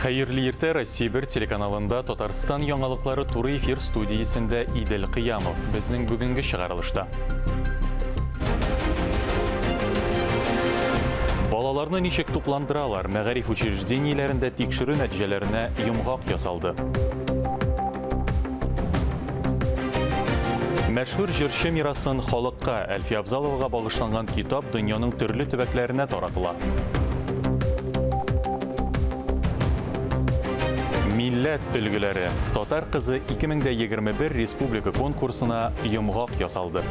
Хәерле иртә Россия бер телеканалында Татарстан яңалыклары туры эфир студиясендә Идел Кыямов. Безнең бүгенге чыгарылышта. Балаларны ничек тукландыралар? Мәгариф учреждениеләрендә тикшерү нәтиҗәләренә йомгак ясалды. Мәшһүр җырчы мирасын халыкка Әлфия Абзаловага багышланган китап дөньяның төрле төбәкләренә таратыла. Милләт өлгеләре Татар кызы 2021 республика конкурсына йомгак ясалды.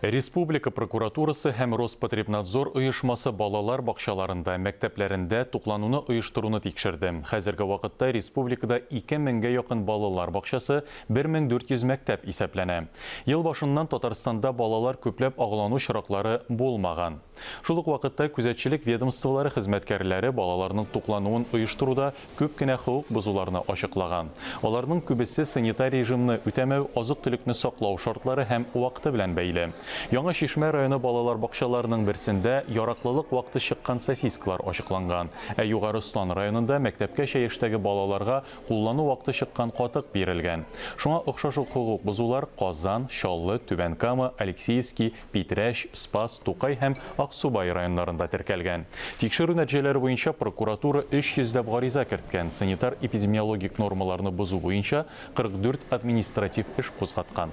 Республика прокуратурасы һәм Роспотребнадзор оешмасы балалар бакчаларында, мәктәпләрендә туклануны оештыруны тикшерде. Хәзерге вакытта республикада 2000 гә якын балалар бакчасы Бер мең дүрт йөз мәктәп исәпләнә. Ел башыннан Татарстанда балалар күпләп агулану очраклары булмаган. Шул ук вакытта күзәтчелек ведомстволары хезмәткәрләре балаларның туклануын оештыруда күп кенә хокук бозуларны ачыклаган. Аларның күбесе санитар режимны үтәмәү, азык-төлекне саклау шартлары һәм вакыты белән бәйле. Яңа Чишмә районы балалар бакчаларының берсендә яраклылык вакыты чыккан сосискалар ачыкланган, ә Югары Ослан районында мәктәпкәчә яшьтәге балаларга Куллану вакыты чыккан катык бирелгән. Шуңа охшаш ук хокук бозулар Казан, Чаллы, Түбән Кама, Алексеевски, Питрәч, Спас, Тукай һәм Аксубай районнарында теркәлгән. Тикшерү нәтиҗәләре буенча прокуратура 300 йөзләп гариза керткән, санитар-эпидемиологик нормаларны бозу буенча 44 административ эш кузгаткан.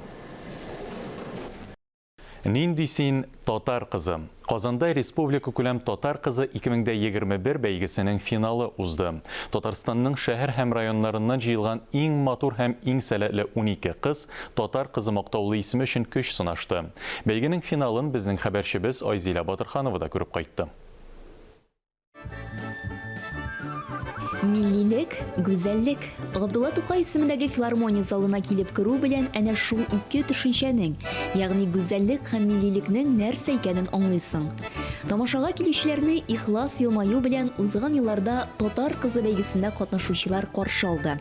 Нинди син татар кызы? Казанда республикакүләм Татар кызы 2021 бәйгесенең финалы узды. Татарстанның шәһәр һәм районнарыннан җыелган иң матур һәм иң сәләтле унике кыз Татар кызы мактаулы исеме өчен көч сынашты. Бәйгенең финалын безнең хәбәрчебез Айзилә Батырханова да күреп кайтты. Миллилек, гүзәллек. Габдулла Тукай исемендәге филармония залына килеп керү белән әнә шул ике төшенчәнең, ягъни гүзәллек һәм миллилекнең нәрсә икәнен аңлыйсың. Тамашага килүчеләрне ихлас елмаю белән узган елларда Татар кызы бәйгесендә катнашучылар каршы алды.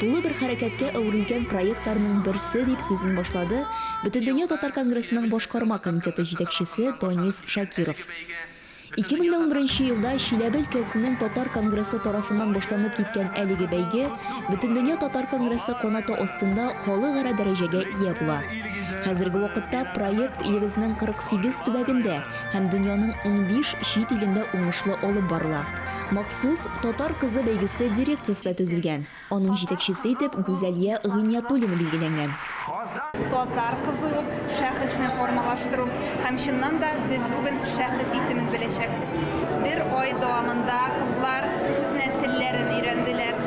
Тулы бер хәрәкәткә әверелгән проектларның берсе, дип сүзен башлады Бөтендөнья татар конгрессының башкарма комитеты җитәкчесе Данис Шакиров. 2011 елда Чиләбе өлкәсенең татар конгрессы тарафыннан башланып киткән әлеге бәйге Бөтендөнья татар конгрессы канаты астында халыкара дәрәҗәгә ия була. Хәзерге вакытта проект илебезнең 48 төбәгендә һәм дөньяның унбиш чит илендә уңышлы алып барыла. Сүз Татар кызы бәйгесе дирекциясендә төзелгән. Аның җитәкчесе итеп Гүзәлия Гыйниятуллина билгеләнгән. Татар кызы ул шәхесне формалаштыру һәм чыннан да без бүген шәхес исемен беләчәкбез. Бер ай дәвамында кызлар үз нәселләрен өйрәнделәр,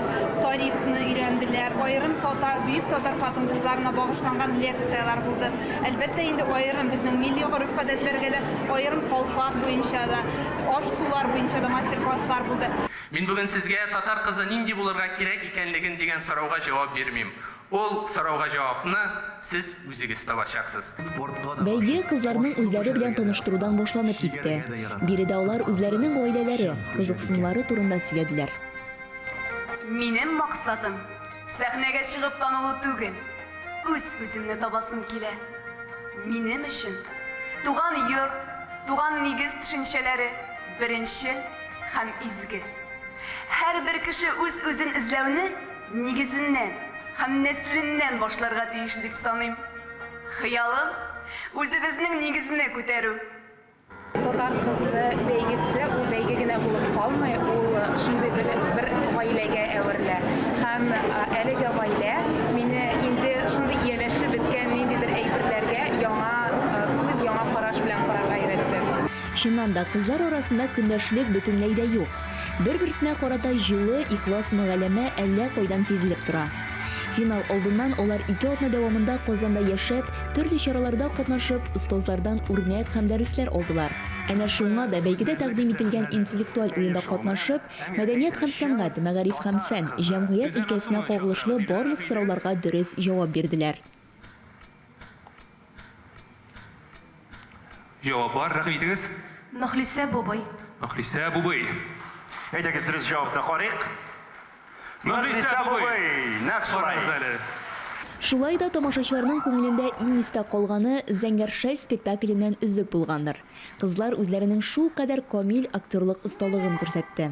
тарихны өйрәнделәр, аерым татар, бөек татар хатын-кызларына багышланган лекцияләр булды. Әлбәттә инде аерым безнең милли гореф-гадәтләргә дә, аерым калфак буенча да. Аш-сулар буенча да мастер-класслар булды. Мин бүген сезгә татар кызы нинди булырга кирәк икәнлеген дигән сорауга җавап бирмим. Ул сорауга җавапны сез үзегез табачаксыз. Бәйге кызларның үзләре белән таныштырудан башланып китте. Биредә алар үзләренең гаиләләре, кызыксынулары турында сөйләделәр. Минем максатым, Сәхнәгә чыгып танылу түгел, үз күземне табасым килә. Минем өчен туган йорт, туган нигез төшенчәләре беренче һәм изге. Һәрбер кеше үз-үзен эзләүне нигезеннән һәм нәселеннән башларга тиеш дип саныйм. Хыялым, үзебезнең нигезне күтәрү. Татар кызы бәйгесе ул бәйге генә булып калмый, ул шундый бер, бер гаиләгә әверелә. Һәм әлеге гаилә мине инде шундый ияләшеп беткән ниндидер әйберләргә яңа күз, яңа караш белән карарга өйрәтте. Чыннан да, кызлар арасында көндәшлек бөтенләй дә юк. Бер-берсенә карата җылы, ихлас мөгаләмә әллә кайдан сизелеп тора. Финал алдыннан алар ике атна дәвамында Казанда яшәп, төрле чараларда катнашып, остазлардан үрнәк һәм дәресләр алдылар. Әнә шуңа да бәйгедә тәкъдим ителгән интеллектуаль уенда катнашып, мәдәният һәм сәнгать, мәгариф һәм фән, җәмгыять өлкәсенә кагылышлы барлык сорауларга дөрес җавап бирделәр. Җавап бар, рәхим итегез. Мөхлисә бубый. Мөхлисә бубый. Әйдәгез дөрес җавапны карыйк. Мөхлисә бубый! Нәкъ шулай. Карагыз әле. Шулай да тамашачыларның күңелендә иң истә калганы Зәңгәр шәл спектакленнән өзек булгандыр. Кызлар үзләренең шулкадәр камил актерлык осталыгын күрсәтте.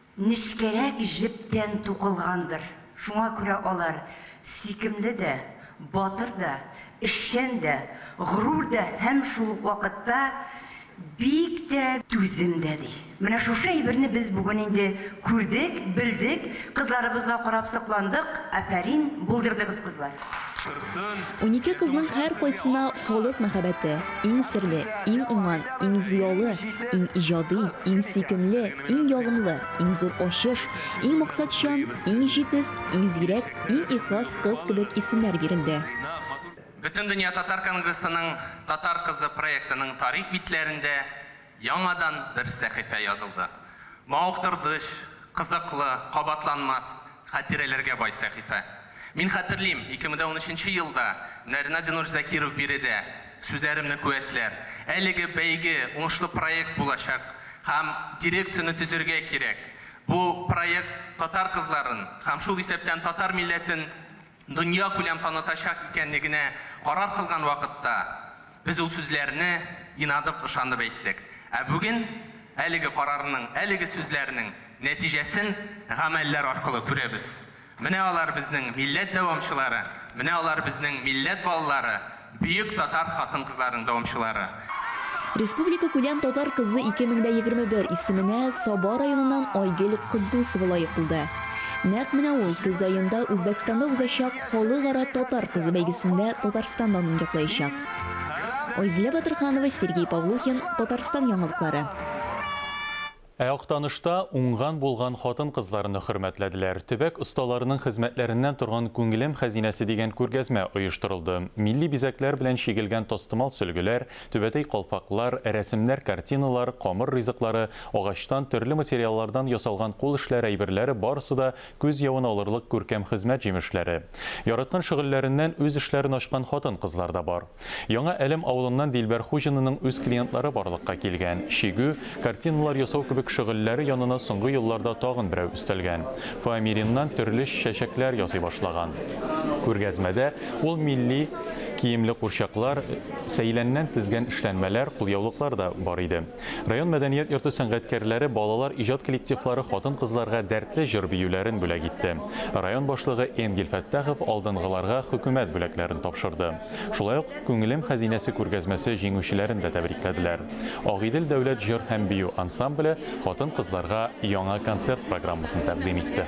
Нечкәрәк җептән тукылгандыр, шуңа күрә алар сөйкемле дә, батыр да, эшчән дә, горур да һәм шул ук вакытта бик тә түзем дә, ди. Менә шушы әйберне без бүген инде күрдек, белдек, кызларыбызга карап сокландык, афәрин, булдырдыгыз кызлар! Унике кызның һәркайсына халык мәхәббәте, иң серле, иң уңган, иң зыялы, иң иҗади, иң сөйкемле, Иң ягымлы, иң зур ачыш, иң максатчан, иң җитез, иң зирәк, иң ихлас кыз кебек исемнәр бирелде. Бөтендөнья татар конгрессының Татар кызы проектының тарих битләрендә яңадан бер сәхифә язылды. Мавыктырдыч, кызыклы, кабатланмас, Хатирәләргә бай сәхифә. Мин хәтерлим, 2013 елда Нәрина Динур Закиров биредә сүзләремне куәтләр, әлеге бәйге уңышлы проект булачак һәм дирекцияне төзергә кирәк, бу проект татар кызларын һәм шул исәптән татар милләтен дөньякүләм танытачак икәнлегенә карар кылган вакытта, без ул сүзләрне инадып, ышанып әйттек. Ә бүген әлеге карарның, әлеге сүзләрнең нәтиҗәсен гамәлләр аркылы күрәбез. Менә алар безнең милләт дәвамчылары, менә алар безнең милләт балалары, Бөек татар хатын-кызларының дәвамчылары. Республикакүләм Татар кызы 2021 исеменә Саба районыннан Айгөл Котдусова лаек булды. Нәкъ менә ул көз аенда Үзбәкстанда узачак Халыкара татар кызы бәйгесендә Татарстан данын яклаячак. Айзилә Батырханова, Сергей Павлухин, Татарстан яңалыклары. Ә Актанышта уңган-булган хатын-кызларны хөрмәтләделәр. Төбәк осталарының хезмәтләреннән торган Күңелем хәзинәсе дигән күргәзмә оештырылды. Милли бизәкләр белән чигелгән тастымал сөлгеләр, түбәтәй калфаклар, рәсемнәр картиналар, камыр ризыклары, агачтан, төрле материаллардан ясалган кул эшләре әйберләре барысы да Күз явын алырлык күркәм хезмәт җимешләре. Яраткан шөгыльләреннән үз эшләрен ачкан хатын-кызлар да бар. Яңа Әлем авылыннан Дилбәр Хуҗинаның үз клиентлары барлыкка килгән. Чигү, картиналар ясау кебек шөгыльләре янына соңгы елларда тагын берәү өстәлгән. Фоамириннан төрле чәчәкләр ясый башлаган. Күргәзмәдә ул милли киемле курчаклар, сәйләннән тезгән эшләнмәләр, кулъяулыклар да бар иде. Район мәдәният йорты сәнгатькәрләре, балалар иҗат коллективлары хатын-кызларга дәртле җыр-биюләрен бүләк итте. Район башлыгы Энгель Фәттахов алдынгыларга хөкүмәт бүләкләрен тапшырды. Шулай ук Күңелем хәзинәсе күргәзмәсе җиңүчеләрен дә тәбрикләделәр. Агыйдел дәүләт җыр һәм бию ансамбле хатын-кызларга яңа концерт программасын тәкъдим итте.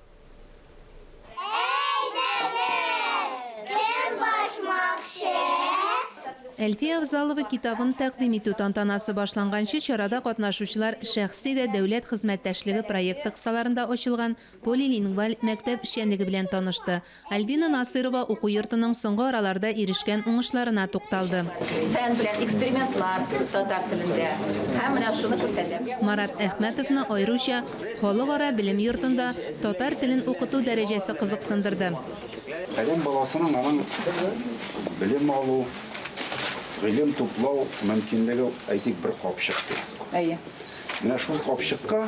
Әйдәгез, кем башмакчы? Әлфия Авзалова китабын тәкъдим итү тантанасы башланганчы чарада катнашучылар шәхси вә дәүләт хезмәттәшлеге проекты кысаларында ачылган полилингваль мәктәп эшчәнлеге белән танышты, Альбина Насыйрова уку йортының соңгы араларда ирешкән уңышларына тукталды. Фән белән экспериментлар татар телендә һәм менә шуны күрсәтәм. Марат Әхмәтовны аеруча Халыкара белем йортында татар телен укыту дәрәҗәсе кызыксындырды. Адәм баласының аның белем алу, гыйлем туплау мөмкинлеге, әйтик, бер капчык дигез. Әйе. Менә шул капчыкка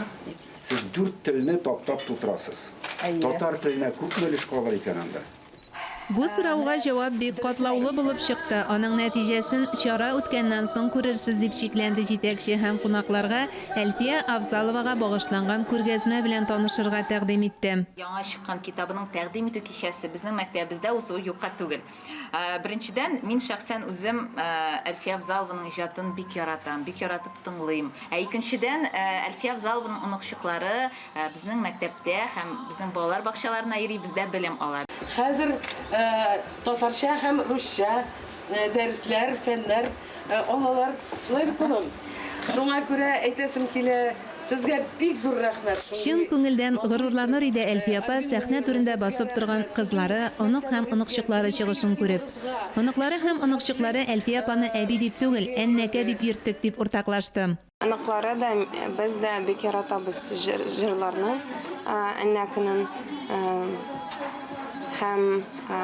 Сез дүрт телне таптап тутырасыз. Татар теленә күпме өлеш калыр икән анда? Бу сорауга җавап бик катлаулы булып чыкты. Аның нәтиҗәсен чара үткәннән соң күрерсез, дип шикләнде җитәкче һәм кунакларга Әлфия Авзаловага багышланган күргәзмә белән танышырга тәкъдим итте. Яңа чыккан китабының тәкъдим итү кичәсе безнең мәктәбебездә узуы юкка түгел. Э, беренчедән мин шәхсән үзем э, әлфия авзалованың иҗатын бик яратам бик яратып тыңлыйм ә икенчедән э, әлфия авзалованың оныкчыклары безнең мәктәптә һәм безнең балалар бакчаларына йөри бездә белем ала хәзер татарча һәм русча дәресләр фәннәр Аналар шулай бит улым. Шуңа күрә әйтәсем килә, сезгә бик зур рәхмәт. Чын күңелдән горурланыр иде Әлфия апа сәхнә түрендә басып торган кызлары, онык һәм оныкчыклары чыгышын күреп. Оныклары һәм оныкчыклары Әлфия апаны әби дип түгел, әннәкә дип йөрттек, дип уртаклашты. Оныклары да, без дә бик яратабыз җыр, җырларны ә, Әннәкенен ә, һәм ә,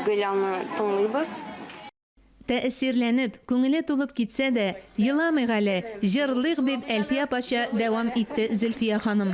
Гөлялны тыңлыйбыз. Тәэсирләнеп, күңеле тулып китсә дә, еламыйк әле, җырлыйк, дип Әлфия апача дәвам итте Зөлфия ханым.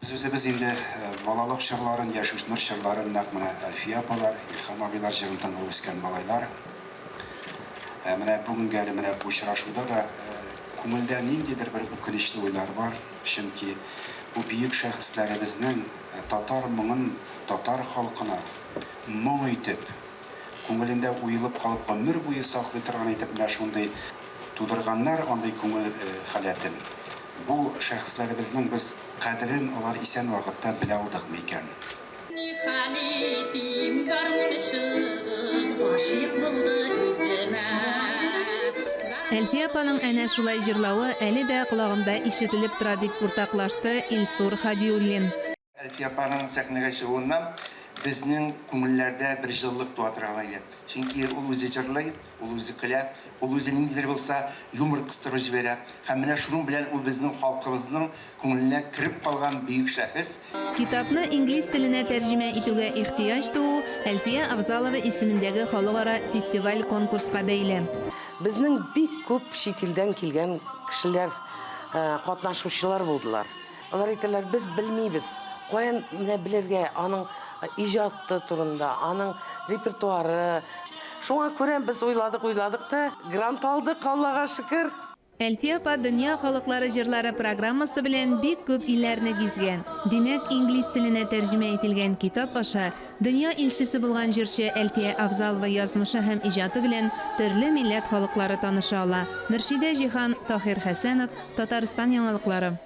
Без үзебез инде балалык чорларын, яшүсмер чорларын нәкъ менә Әлфия апалар, Илһам абыйлар җырын тыңлап үскән малайлар. Ә менә бүгенге әле менә бу очрашуда да күңелдә ниндидер бер үкенечле уйлар бар, чөнки бу бөек шәхесләребезнең татар моңын татар халкына моң итеп, Күңелендә уелып калып гомер буе саклый торган итеп менә шундый тудырганнар андый күңел халәтен. Бу шәхесләребезнең без кадерен алар исән вакытта белә алдык микән? Ни хәл итим, гармунчыбыз гашыйк булды үземә. Әлфия апаның әнә шулай җырлавы әле дә колагымда ишетелеп тора, дип уртаклашты Илсур Һадиуллин. Әлфия апаның сәхнәгә чыгуыннан безнең күңелләрдә бер җылылык туа торган иде. Чөнки ул үзе җырлый, ул үзе көлә, ул үзе ниндидер булса юмор кыстырып җибәрә. Һәм менә шуның белән ул безнең халкыбызның күңеленә кереп калган бөек шәхес. Китапны инглиз теленә тәрҗемә итүгә ихтыяҗ туу Әлфия Авзалова исемендәге халыкара фестиваль-конкурска бәйле. Безнең бик күп чит илдән килгән кешеләр катнашучылар булдылар. Алар әйтәләр, без белмибез. Каян менә белергә аның иҗаты турында, аның репертуары. Шуңа күрә без уйладык, уйладык та грант алдык, Аллага шөкер. Әлфия апа Дөнья халыклары җырлары программасы белән бик күп илләрне гизгән. Димәк, инглиз теленә тәрҗемә ителгән китап аша дөнья илчесе булган җырчы Әлфия Авзалова язмышы һәм иҗаты белән төрле милләт халыклары таныша ала. Мөршидә Җиһан, Таһир Хәсәнов, Татарстан яңалыклары.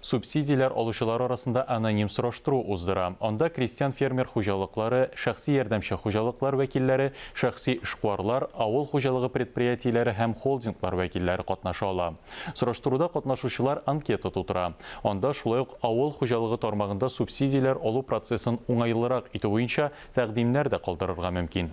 субсидияләр алучылар арасында аноним сораштыру уздыра, анда крестьян-фермер хуҗалыклары, шәхси ярдәмче хуҗалыклар вәкилләре, шәхси эшкуарлар, авыл хуҗалыгы предприятиеләре һәм холдинглар вәкилләре катнаша ала. Сораштыруда катнашучылар анкета тутыра. Анда шулай ук авыл хуҗалыгы тармагында субсидияләр алу процессын уңайлырак итү буенча тәкъдимнәр дә калдырырга мөмкин.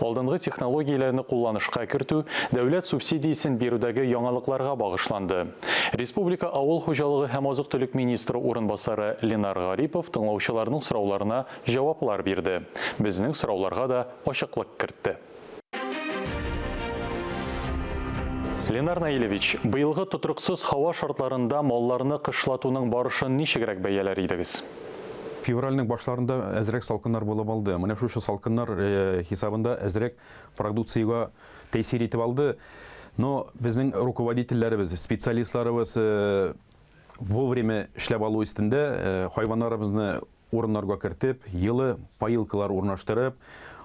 алдынгы технологияләрне кулланышка кертү, дәүләт субсидиясен бирүдәге яңалыкларга багышланды. Республика авыл хуҗалыгы һәм азык-төлек министры урынбасары Ленар Гарипов тыңлаучыларның сорауларына җаваплар бирде, безнең сорауларга да ачыклык кертте. Ленар Наилевич, быелгы тотрыксыз һава шартларында малларны кышлатуның барышын ничегрәк бәяләр идегез? Февральнең башларында әзрәк салкыннар булып алды. Менә шушы салкыннар хисабында әзрәк продукциягә тәэсир итеп алды. Но безнең руководительләребез, специалистларыбыз вовремя эшләп алу өстендә, хайваннарыбызны урыннарга кертеп, йылы поилкалар урнаштырып,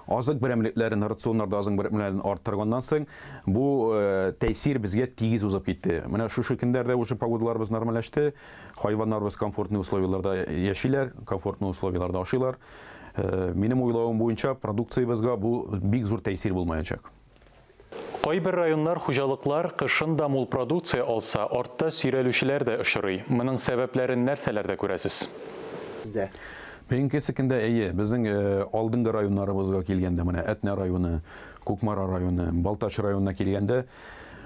азык берәмлекләрен, рационнарда азык берәмлекләрен арттырганнан соң, бу тәэсир безгә тигез узып китте. Менә шушы көннәрдә уже погодаларыбыз нормальләште. Хайваннарыбыз комфортный условияләрдә яшиләр, комфортный условияләрдә ашыйлар. Минем уйлавым буенча, продукциябезгә бу бик зур тәэсир булмаячак. Кайбер районнар, хуҗалыклар кышын да мул продукция алса, артта сөйрәлүчеләр дә очрый. Моның сәбәпләрен нәрсәләрдә күрәсез? Минекесекендә, әйе, безнең алдынгы районнарыбызга килгәндә, менә Әтнә районы, Кукмара районы, Балтач районына килгәндә,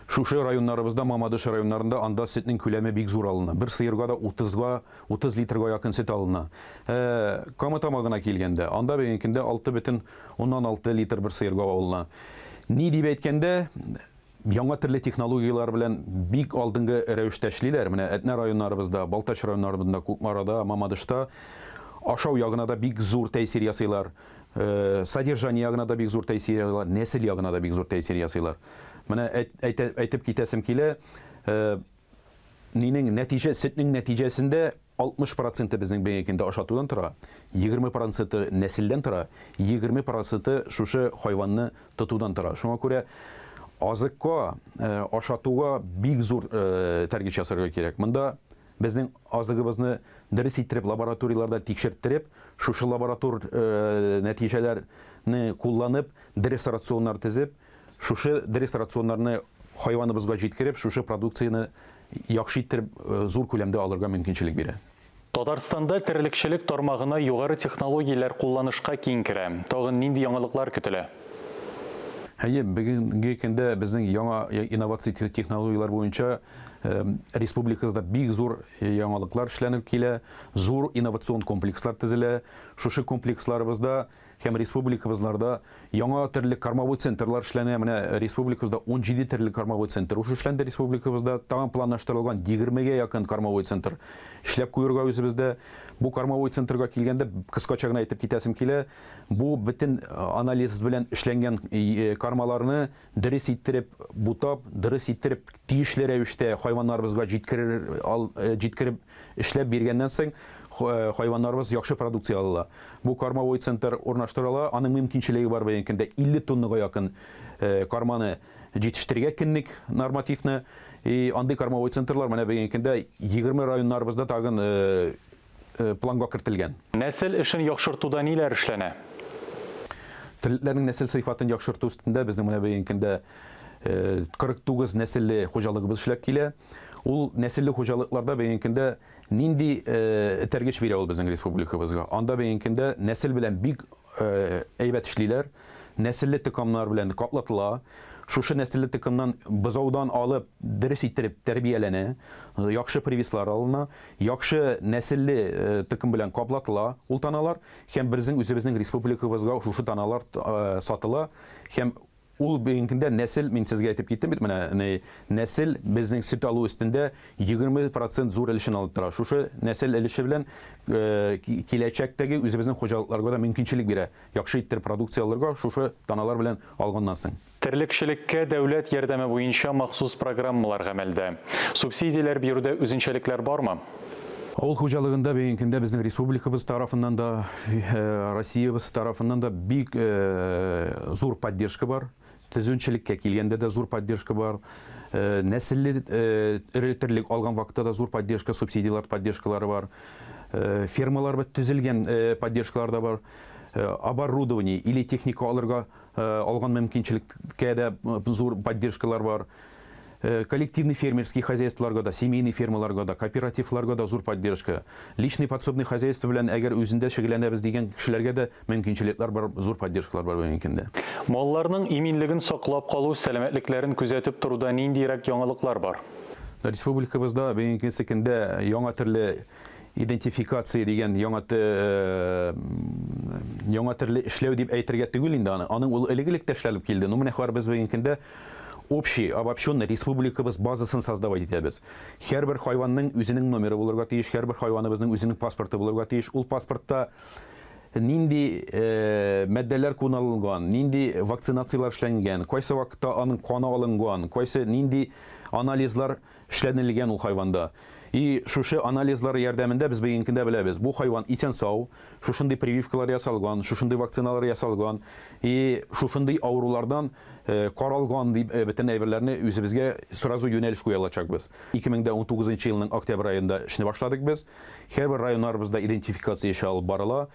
Шушы районнарыбызда, Мамадыш районнарында анда сөтнең күләме бик зур алына. Бер сыерга да утызга, утыз литрга якын сөт алына. Ә Кама Тамагына килгәндә, анда бегенкендә алты бөтен уннан алты литр бер сыерга алына. Ни дип әйткәндә, яңа төрле технологияләр белән бик алдынгы рәвештә эшлиләр. Менә Әтнә районнарыбызда, Балтач районнарыбында, Кукмарада, Мамадышта ашау ягына да бик зур тәэсир ясыйлар. э, содержание ягына да бик зур тәэсир ясыйлар, нәсел ягына да бик зур тәэсир ясыйлар. Менә әйтеп китәсем килә, э, нинең нәтиҗә, сөтнең нәтиҗәсендә 60 проценты безнең бенекендә ашатудан тора, 20 проценты нәселдән тора, 20 проценты шушы хайванны тотудан тора. Шуңа күрә азыкка, э, ашатуга бик зур э, тәргич ясарга кирәк. Монда Безнең азыгыбызны дөрес иттереп лабораторияләрдә тикшерттереп, шушы лаборатор нәтиҗәләр не кулланып, дерес рационнар тезеп, шушы дерес рационнарны хайваныбызга җиткереп, шушы продукцияне яхшы иттереп зур күләмдә алырга мөмкинчелек бирә. Татарстанда терлекчелек тармагына югары технологияләр кулланышка киң керә. Тагын нинди яңалыклар көтелә? Әйе, бүгенге көндә безнең яңа инновация технологияләр буенча Республикабызда бик зур яңалыклар эшләнеп килә, зур инновацион комплекслар төзелә. Шушы комплексларыбызда һәм республикабызларда яңа төрле кормовой центрлар эшләнә. Менә республикабызда 17 төрле кормовой центр ушу эшләнде республикабызда. Тагын планлаштырылган 20-гә якын кормовой центр эшләп куерга үзебездә. Бу кормовой центрга килгәндә, кыскача гына әйтеп китәсем килә, бу бөтен анализ белән эшләнгән кормаларны Дөрес иттереп бутап, дөрес иттереп тиешле рәвештә хайваннарыбызга җиткерер ал җиткереп эшләп биргәннән соң хайваннарыбыз яхшы продукция алалар. Бу кормовой центр урнаштырыла, аның мөмкинчелеге бар быел көндә 50 тоннага якын корманы җитештерергә көнлек нормативны. И андый кормовой центрлар менә быел көндә 20 районнарыбызда тагын планга кертелгән. Нәсел эшен яхшыртуда ниләр эшләнә? Терлекләрнең нәсел сыйфатын яхшырту өстендә безнең менә бүгенге көндә 49 нәселле хуҗалыгыбыз эшләп килә. Ул нәселле хуҗалыкларда бүгенге көндә нинди этәргеч бирә ул безнең республикабызга? Анда бүгенге көндә нәсел белән бик Әйбәт эшлиләр. Нәселле токымнар белән катлатыла. Шушы нәселле токымнан бозаудан алып дөрес иттереп тәрбияләнә. Яхшы привислар алына. Яхшы нәселле токым белән каплатыла ул таналар һәм берзең үзебезнең республикабызга шушы таналар сатыла һәм Ул бүгенге көндә нәсел, мин сезгә әйтеп киттем бит менә, ни, нәсел безнең сөт алу өстендә егерме процент зур өлешен алып тора. Шушы нәсел өлеше белән киләчәктәге үзебезнең хуҗалыкларга да мөмкинчелек бирә яхшы иттер продукция алырга шушы даналар белән алганнан соң. Терлекчелеккә дәүләт ярдәме буенча махсус программалар гамәлдә. Субсидияләр бирүдә үзенчәлекләр бармы? Авыл хуҗалыгында бүгенге көндә безнең республикабыз тарафыннан да, Россиябез тарафыннан да бик зур поддержка бар. Төзүчелеккә килгәндә дә зур поддержка бар. Нәселле эре терлек алган вакытта да зур поддержка, субсидияләр поддержкалары бар. Фермаларыбыз төзелгән поддержкалар да бар. Оборудование или техника алырга алган мөмкинчелеккә дә зур поддержкалар бар. Коллективный фермерский хозяйстволарга да, семейный фермаларга да, кооперативларга да зур поддержка. Личный подсобный хозяйство белән әгәр үзендә шөгыльләнәбез дигән кешеләргә дә мөмкинчелекләр бар, зур поддержкалар бар бүгенге көндә. Малларның иминлеген саклап калу, сәламәтлекләрен күзәтеп торуда ниндиерәк яңалыклар бар? Республикабызда бүгенге көндә яңа төрле идентификация дигән яңа яңа төрле эшләү дип әйтергә түгел инде аны. Аның ул элек-элек тә эшләнеп килде. Ну, менә хәбәр без бүгенге көндә Общий, обобщенный, республикабыз базасын создавать итәбез. Һәрбер хайванның үзенең номеры булырга тиеш, һәрбер хайваныбызның үзенең паспорты булырга тиеш. Ул паспортта нинди матдәләр кулланылган, нинди вакцинацияләр эшләнгән, кайсы вакытта аның каны алынган, кайсы нинди анализлар эшләнелгән ул хайванда. И шушы анализлар ярдәмендә без бегенькендә беләбез, бу хайван исән-сау, шушындый прививкалар ясалган, шушындый вакциналар ясалган, и шушындый авырулардан каралган дип бөтен әйберләрне үзебезгә сразу юнәлеш куя алачакбыз. 2019 елның октябрь аенда эшне башладык без. Һәрбер районнарыбызда идентификация эше алып барыла.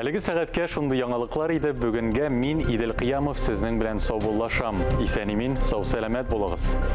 Әлеге сәгатькә шундый яңалыклар иде. Бүгенгә мин Идел Кыямов сезнең белән саубуллашам. Исән-имин, сау-сәламәт булыгыз.